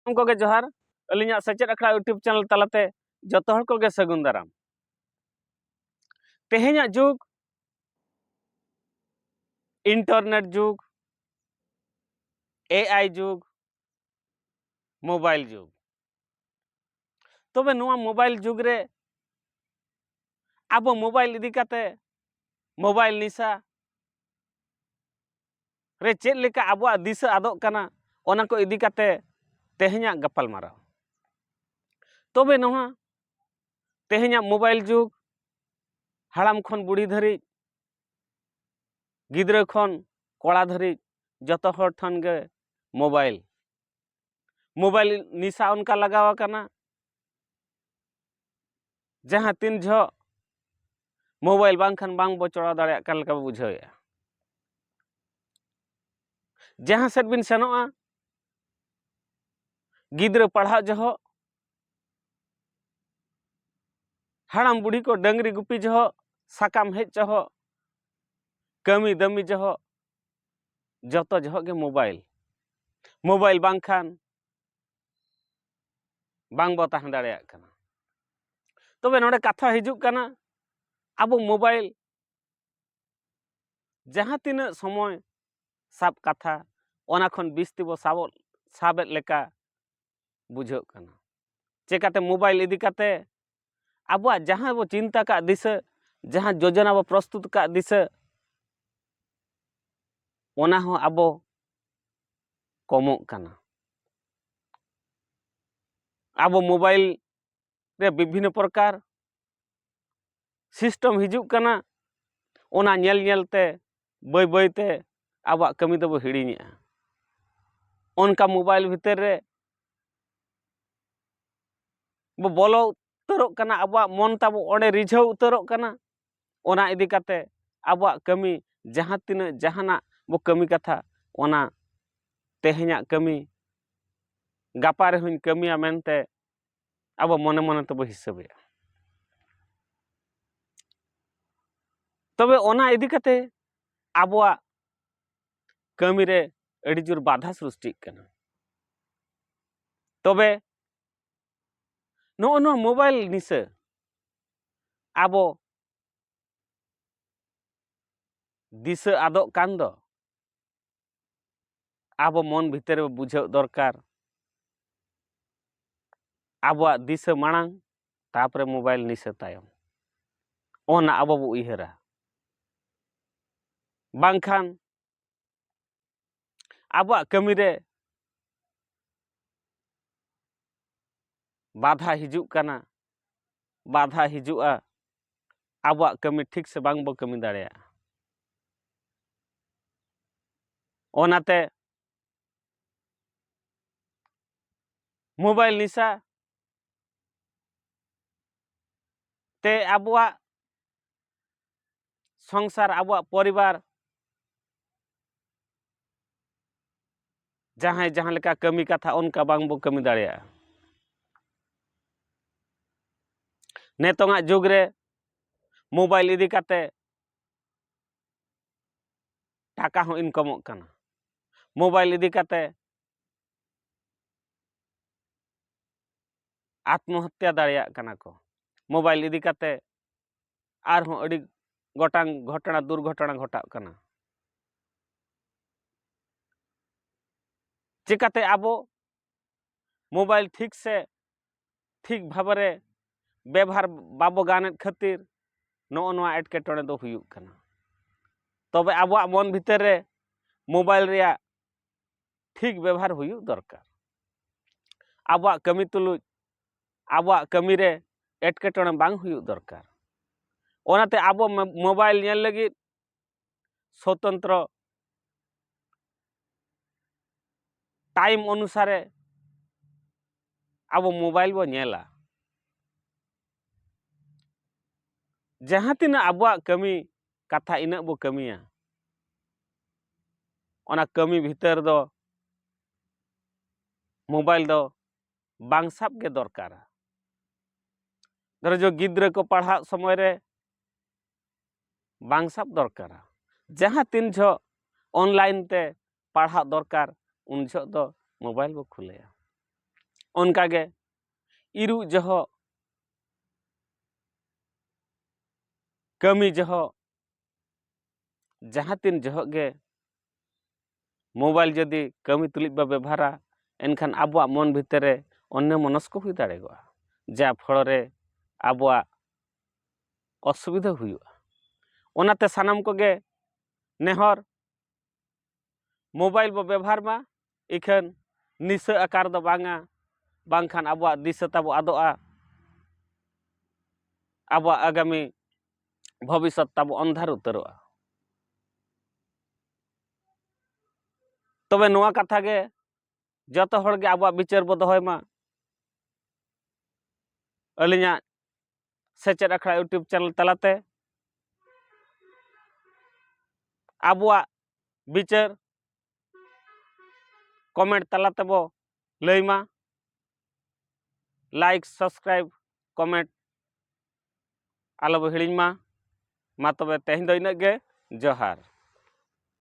ᱩᱱᱠᱩ ᱜᱮ ᱡᱚᱦᱟᱨ ᱟᱹᱞᱤᱧᱟᱜ ᱥᱮᱪᱮᱫ ᱟᱠᱷᱲᱟ ᱤᱭᱩᱴᱩᱵᱽ ᱪᱮᱱᱮᱞ ᱛᱟᱞᱟᱛᱮ ᱡᱚᱛᱚ ᱦᱚᱲ ᱠᱚᱜᱮ ᱥᱟᱹᱜᱩᱱ ᱫᱟᱨᱟᱢ ᱛᱮᱦᱮᱧᱟᱜ ᱡᱩᱜᱽ ᱤᱱᱴᱟᱨᱱᱮᱴ ᱡᱩᱜᱽ ᱮ ᱟᱭ ᱡᱩᱜᱽ ᱢᱳᱵᱟᱭᱤᱞ ᱡᱩᱜᱽ ᱛᱚᱵᱮ ᱱᱚᱣᱟ ᱢᱳᱵᱟᱭᱤᱞ ᱡᱩᱜᱽ ᱨᱮ ᱟᱵᱚ ᱢᱳᱵᱟᱭᱤᱞ ᱤᱫᱤ ᱠᱟᱛᱮ ᱢᱳᱵᱟᱭᱤᱞ ᱱᱤᱥᱟ ᱨᱮ ᱪᱮᱫ ᱞᱮᱠᱟ ᱟᱵᱚᱣᱟᱜ ᱫᱤᱥᱟᱹ ᱟᱫᱚᱜ ᱠᱟᱱᱟ ᱚᱱᱟ ᱠᱚ ᱤᱫᱤ ᱠᱟᱛᱮ ᱛᱮᱦᱮᱧᱟᱜ ᱜᱟᱯᱟᱞ ᱢᱟᱨᱟᱣ ᱛᱚᱵᱮ ᱱᱚᱣᱟ ᱛᱮᱦᱮᱧᱟᱜ ᱢᱳᱵᱟᱭᱤᱞ ᱡᱩᱜᱽ ᱦᱟᱲᱟᱢ ᱠᱷᱚᱱ ᱵᱩᱲᱦᱤ ᱫᱷᱟᱹᱨᱤᱡ ᱜᱤᱫᱽᱨᱟᱹ ᱠᱷᱚᱱ ᱠᱚᱲᱟ ᱫᱷᱟᱹᱨᱤᱡ ᱡᱚᱛᱚ ᱦᱚᱲ ᱴᱷᱮᱱ ᱜᱮ ᱢᱳᱵᱟᱭᱤᱞ ᱢᱳᱵᱟᱭᱤᱞ ᱱᱮᱥᱟ ᱚᱱᱠᱟ ᱞᱟᱜᱟᱣ ᱟᱠᱟᱱᱟ ᱡᱟᱦᱟᱸ ᱛᱤᱱ ᱡᱚᱦᱚᱜ ᱢᱳᱵᱟᱭᱤᱞ ᱵᱟᱝᱠᱷᱟᱱ ᱵᱟᱝ ᱵᱚ ᱪᱚᱲᱟᱣ ᱫᱟᱲᱮᱭᱟᱜ ᱠᱟᱱ ᱞᱮᱠᱟ ᱵᱚ ᱵᱩᱡᱷᱟᱹᱣᱮᱫᱼᱟ ᱡᱟᱦᱟᱸ ᱥᱮᱫ ᱵᱤᱱ ᱥᱮᱱᱚᱜᱼᱟ ᱜᱤᱫᱽᱨᱟᱹ ᱯᱟᱲᱦᱟᱜ ᱡᱚᱦᱚᱜ ᱦᱟᱲᱟᱢ ᱵᱩᱲᱦᱤ ᱠᱚ ᱰᱟᱹᱝᱨᱤ ᱜᱩᱯᱤ ᱡᱚᱦᱚᱜ ᱥᱟᱠᱟᱢ ᱦᱮᱡ ᱡᱚᱦᱚᱜ ᱠᱟᱹᱢᱤ ᱫᱟᱹᱢᱤ ᱡᱚᱦᱚᱜ ᱡᱚᱛᱚ ᱡᱚᱦᱚᱜ ᱜᱮ ᱢᱳᱵᱟᱭᱤᱞ ᱢᱳᱵᱟᱭᱤᱞ ᱵᱟᱝᱠᱷᱟᱱ ᱵᱟᱝ ᱵᱚ ᱛᱟᱦᱮᱸ ᱫᱟᱲᱮᱭᱟᱜ ᱠᱟᱱᱟ ᱛᱚᱵᱮ ᱱᱚᱰᱮ ᱠᱟᱛᱷᱟ ᱦᱤᱡᱩᱜ ᱠᱟᱱᱟ ᱟᱵᱚ ᱢᱳᱵᱟᱭᱤᱞ ᱡᱟᱦᱟᱸ ᱛᱤᱱᱟᱹᱜ ᱥᱚᱢᱚᱭ ᱥᱟᱵ ᱠᱟᱛᱷᱟ ᱚᱱᱟ ᱠᱷᱚᱱ ᱵᱤᱥᱛᱤ ᱵᱚ ᱥᱟᱵᱚᱜ ᱥᱟᱵᱮᱫ ᱞᱮᱠᱟ ᱵᱩᱡᱷᱟᱹᱜ ᱠᱟᱱᱟ ᱪᱮᱠᱟᱛᱮ ᱢᱳᱵᱟᱭᱤᱞ ᱤᱫᱤ ᱠᱟᱛᱮ ᱟᱵᱚᱣᱟᱜ ᱡᱟᱦᱟᱸ ᱵᱚ ᱪᱤᱱᱛᱟᱹ ᱠᱟᱜ ᱫᱤᱥᱟᱹ ᱡᱟᱦᱟᱸ ᱡᱳᱡᱚᱱᱟ ᱵᱚ ᱯᱨᱚᱥᱛᱩᱛ ᱠᱟᱜ ᱫᱤᱥᱟᱹ ᱚᱱᱟ ᱦᱚᱸ ᱟᱵᱚ ᱠᱚᱢᱚᱜ ᱠᱟᱱᱟ ᱟᱵᱚ ᱢᱳᱵᱟᱭᱤᱞ ᱨᱮ ᱵᱤᱵᱷᱤᱱᱱᱚ ᱯᱨᱚᱠᱟᱨ ᱥᱤᱥᱴᱮᱢ ᱦᱤᱡᱩᱜ ᱠᱟᱱᱟ ᱚᱱᱟ ᱧᱮᱞ ᱧᱮᱞ ᱛᱮ ᱵᱟᱹᱭ ᱵᱟᱹᱭ ᱛᱮ ᱟᱵᱚᱣᱟᱜ ᱠᱟᱹᱢᱤ ᱫᱚᱵᱚ ᱦᱤᱲᱤᱧᱮᱜᱼᱟ ᱚᱱᱠᱟ ᱢᱳᱵᱟᱭᱤᱞ ᱵᱷᱤᱛᱤᱨ ᱨᱮ ᱵᱚ ᱵᱚᱞᱚ ᱩᱛᱟᱹᱨᱚᱜ ᱠᱟᱱᱟ ᱟᱵᱚᱣᱟᱜ ᱢᱚᱱ ᱛᱟᱵᱚ ᱚᱸᱰᱮ ᱨᱤᱡᱷᱟᱹᱣ ᱩᱛᱟᱹᱨᱚᱜ ᱠᱟᱱᱟ ᱚᱱᱟ ᱤᱫᱤ ᱠᱟᱛᱮ ᱟᱵᱚᱣᱟᱜ ᱠᱟᱹᱢᱤ ᱡᱟᱦᱟᱸ ᱛᱤᱱᱟᱹᱜ ᱡᱟᱦᱟᱱᱟᱜ ᱵᱚ ᱠᱟᱹᱢᱤ ᱠᱟᱛᱷᱟ ᱚᱱᱟ ᱛᱮᱦᱮᱧᱟᱜ ᱠᱟᱹᱢᱤ ᱜᱟᱯᱟ ᱨᱮᱦᱚᱧ ᱠᱟᱹᱢᱤᱭᱟ ᱢᱮᱱᱛᱮ ᱟᱵᱚ ᱢᱚᱱᱮ ᱢᱚᱱᱮ ᱛᱮᱵᱚ ᱦᱤᱥᱟᱹᱵᱮᱜᱼᱟ ᱛᱚᱵᱮ ᱚᱱᱟ ᱤᱫᱤ ᱠᱟᱛᱮ ᱟᱵᱚᱣᱟᱜ ᱠᱟᱹᱢᱤ ᱨᱮ ᱟᱹᱰᱤ ᱡᱳᱨ ᱵᱟᱫᱷᱟ ᱥᱨᱤᱥᱴᱤᱜ ᱠᱟᱱᱟ ᱛᱚᱵᱮ ᱱᱚᱜᱼᱚ ᱱᱚᱣᱟ ᱢᱳᱵᱟᱭᱤᱞ ᱱᱤᱥᱟᱹ ᱟᱵᱚ ᱫᱤᱥᱟᱹ ᱟᱫᱚᱜ ᱠᱟᱱ ᱫᱚ ᱟᱵᱚ ᱢᱚᱱ ᱵᱷᱤᱛᱤᱨ ᱨᱮ ᱵᱩᱡᱷᱟᱹᱣ ᱫᱚᱨᱠᱟᱨ ᱟᱵᱚᱣᱟᱜ ᱫᱤᱥᱟᱹ ᱢᱟᱲᱟᱝ ᱛᱟᱯᱚᱨᱮ ᱢᱳᱵᱟᱭᱤᱞ ᱱᱤᱥᱟᱹ ᱛᱟᱭᱚᱢ ᱚᱱᱟ ᱟᱵᱚ ᱵᱚ ᱩᱭᱦᱟᱹᱨᱟ ᱵᱟᱝᱠᱷᱟᱱ ᱟᱵᱚᱣᱟᱜ ᱠᱟᱹᱢᱤ ᱨᱮ ᱵᱟᱫᱷᱟ ᱦᱤᱡᱩᱜ ᱠᱟᱱᱟ ᱵᱟᱫᱷᱟ ᱦᱤᱡᱩᱜᱼᱟ ᱟᱵᱚᱣᱟᱜ ᱠᱟᱹᱢᱤ ᱴᱷᱤᱠ ᱥᱮ ᱵᱟᱝ ᱵᱚ ᱠᱟᱹᱢᱤ ᱫᱟᱲᱮᱭᱟᱜᱼᱟ ᱚᱱᱟᱛᱮ ᱢᱳᱵᱟᱭᱤᱞ ᱱᱮᱥᱟ ᱛᱮ ᱟᱵᱚᱣᱟᱜ ᱥᱚᱝᱥᱟᱨ ᱟᱵᱚᱣᱟᱜ ᱯᱚᱨᱤᱵᱟᱨ ᱡᱟᱦᱟᱸᱭ ᱡᱟᱦᱟᱸ ᱞᱮᱠᱟ ᱠᱟᱹᱢᱤ ᱠᱟᱛᱷᱟ ᱚᱱᱠᱟ ᱵᱟᱝ ᱵᱚᱱ ᱠᱟᱹᱢᱤ ᱫᱟᱲᱮᱭᱟᱜᱼᱟ ᱱᱤᱛᱚᱝᱟᱜ ᱡᱩᱜᱽ ᱨᱮ ᱢᱳᱵᱟᱭᱤᱞ ᱤᱫᱤ ᱠᱟᱛᱮᱫ ᱴᱟᱠᱟ ᱦᱚᱸ ᱤᱱᱠᱟᱢᱚᱜ ᱠᱟᱱᱟ ᱢᱳᱵᱟᱭᱤᱞ ᱤᱫᱤ ᱠᱟᱛᱮᱫ ᱟᱛᱢᱚᱦᱚᱛᱛᱟ ᱫᱟᱲᱮᱭᱟᱜ ᱠᱟᱱᱟ ᱠᱚ ᱢᱳᱵᱟᱭᱤᱞ ᱤᱫᱤ ᱠᱟᱛᱮᱫ ᱟᱨᱦᱚᱸ ᱟᱹᱰᱤ ᱜᱚᱴᱟᱝ ᱜᱷᱚᱴᱚᱱᱟ ᱫᱩᱨᱜᱷᱚᱴᱚᱱᱟ ᱜᱷᱚᱴᱟᱜ ᱠᱟᱱᱟ ᱪᱮᱠᱟᱛᱮ ᱟᱵᱚ ᱢᱳᱵᱟᱭᱤᱞ ᱴᱷᱤᱠ ᱥᱮ ᱴᱷᱤᱠ ᱵᱷᱟᱵᱮ ᱵᱮᱵᱷᱟᱨ ᱵᱟᱵᱚ ᱜᱟᱱᱮᱫ ᱠᱷᱟᱹᱛᱤᱨ ᱱᱚᱜᱼᱚ ᱱᱚᱣᱟ ᱮᱴᱠᱮᱴᱚᱬᱮ ᱫᱚ ᱦᱩᱭᱩᱜ ᱠᱟᱱᱟ ᱛᱚᱵᱮ ᱟᱵᱚᱣᱟᱜ ᱢᱚᱱ ᱵᱷᱤᱛᱟᱹᱨ ᱨᱮ ᱢᱳᱵᱟᱭᱤᱞ ᱨᱮᱭᱟᱜ ᱴᱷᱤᱠ ᱵᱮᱵᱷᱟᱨ ᱦᱩᱭᱩᱜ ᱫᱚᱨᱠᱟᱨ ᱟᱵᱚᱣᱟᱜ ᱠᱟᱹᱢᱤ ᱛᱩᱞᱩᱡ ᱟᱵᱚᱣᱟᱜ ᱠᱟᱹᱢᱤ ᱨᱮ ᱮᱴᱠᱮᱴᱚᱬᱮ ᱵᱟᱝ ᱦᱩᱭᱩᱜ ᱫᱚᱨᱠᱟᱨ ᱚᱱᱟᱛᱮ ᱟᱵᱚ ᱢᱳᱵᱟᱭᱤᱞ ᱧᱮᱞ ᱞᱟᱹᱜᱤᱫ ᱥᱚᱛᱚᱱᱛᱨᱚ ᱴᱟᱭᱤᱢ ᱚᱱᱩᱥᱟᱨᱮ ᱟᱵᱚ ᱢᱳᱵᱟᱭᱤᱞ ᱵᱚ ᱧᱮᱞᱟ ᱡᱟᱦᱟᱸ ᱛᱤᱱᱟᱹᱜ ᱟᱵᱚᱣᱟᱜ ᱠᱟᱹᱢᱤ ᱠᱟᱛᱷᱟ ᱤᱱᱟᱹᱜ ᱵᱚ ᱠᱟᱹᱢᱤᱭᱟ ᱚᱱᱟ ᱠᱟᱹᱢᱤ ᱵᱷᱤᱛᱟᱹᱨ ᱫᱚ ᱢᱳᱵᱟᱭᱤᱞ ᱫᱚ ᱵᱟᱝ ᱥᱟᱵ ᱜᱮ ᱫᱚᱨᱠᱟᱨᱟ ᱫᱷᱚᱨᱚ ᱡᱚ ᱜᱤᱫᱽᱨᱟᱹ ᱠᱚ ᱯᱟᱲᱦᱟᱜ ᱥᱚᱢᱚᱭ ᱨᱮ ᱵᱟᱝ ᱥᱟᱵ ᱫᱚᱨᱠᱟᱨᱟ ᱡᱟᱦᱟᱸ ᱛᱤᱱ ᱡᱷᱚᱜ ᱚᱱᱞᱟᱭᱤᱱ ᱛᱮ ᱯᱟᱲᱦᱟᱜ ᱫᱚᱨᱠᱟᱨ ᱩᱱ ᱡᱷᱚᱜ ᱫᱚ ᱢᱳᱵᱟᱭᱤᱞ ᱵᱚ ᱠᱷᱩᱞᱟᱹᱭᱟ ᱚᱱᱠᱟ ᱜᱮ ᱤᱨᱩᱜ ᱡᱚᱦᱚᱜ ᱠᱟᱹᱢᱤ ᱡᱚᱦᱚᱜ ᱡᱟᱦᱟᱸ ᱛᱤᱱ ᱡᱚᱦᱚᱜ ᱜᱮ ᱢᱳᱵᱟᱭᱤᱞ ᱡᱩᱫᱤ ᱠᱟᱹᱢᱤ ᱛᱩᱞᱩᱡ ᱵᱚᱱ ᱵᱮᱵᱚᱦᱟᱨᱟ ᱮᱱᱠᱷᱟᱱ ᱟᱵᱚᱣᱟᱜ ᱢᱚᱱ ᱵᱷᱤᱛᱤᱨ ᱨᱮ ᱚᱱᱱᱚᱢᱚᱱᱚᱥᱠᱚ ᱦᱩᱭ ᱫᱟᱲᱮᱭᱟᱜᱼᱟ ᱡᱟ ᱯᱷᱚᱲᱚ ᱨᱮ ᱟᱵᱚᱣᱟᱜ ᱚᱥᱩᱵᱤᱫᱷᱟ ᱦᱩᱭᱩᱜᱼᱟ ᱚᱱᱟᱛᱮ ᱥᱟᱱᱟᱢ ᱠᱚᱜᱮ ᱱᱮᱦᱚᱨ ᱢᱳᱵᱟᱭᱤᱞ ᱵᱚ ᱵᱮᱵᱷᱟᱨ ᱢᱟ ᱤᱠᱷᱟᱹᱱ ᱱᱤᱥᱟᱹ ᱟᱠᱟᱨ ᱫᱚ ᱵᱟᱝᱟ ᱵᱟᱝᱠᱷᱟᱱ ᱟᱵᱚᱣᱟᱜ ᱫᱤᱥᱟᱹ ᱛᱟᱵᱚ ᱟᱫᱚᱜᱼᱟ ᱟᱵᱚᱣᱟᱜ ᱟᱜᱟᱢᱤ ᱵᱷᱚᱵᱤᱥᱥᱚᱛ ᱛᱟᱵᱚ ᱚᱱᱫᱷᱟᱨ ᱩᱛᱟᱹᱨᱚᱜᱼᱟ ᱛᱚᱵᱮ ᱱᱚᱣᱟ ᱠᱟᱛᱷᱟ ᱜᱮ ᱡᱚᱛᱚ ᱦᱚᱲ ᱜᱮ ᱟᱵᱚᱣᱟᱜ ᱵᱤᱪᱟᱹᱨ ᱵᱚ ᱫᱚᱦᱚᱭ ᱢᱟ ᱟᱹᱞᱤᱧᱟᱜ ᱥᱮᱪᱮᱫ ᱟᱠᱷᱲᱟ ᱤᱭᱩᱴᱩᱵᱽ ᱪᱮᱱᱮᱞ ᱛᱟᱞᱟᱛᱮ ᱟᱵᱚᱣᱟᱜ ᱵᱤᱪᱟᱹᱨ ᱠᱚᱢᱮᱱᱴ ᱛᱟᱞᱟ ᱛᱮᱵᱚ ᱞᱟᱹᱭ ᱢᱟ ᱞᱟᱭᱤᱠ ᱥᱟᱵᱥᱠᱨᱟᱭᱤᱵ ᱠᱚᱢᱮᱱᱴ ᱟᱞᱚᱵᱚ ᱦᱤᱲᱤᱧ ᱢᱟ ᱢᱟ ᱛᱚᱵᱮ ᱛᱮᱦᱮᱧ ᱫᱚ ᱤᱱᱟᱹᱜ ᱜᱮ ᱡᱚᱦᱟᱨ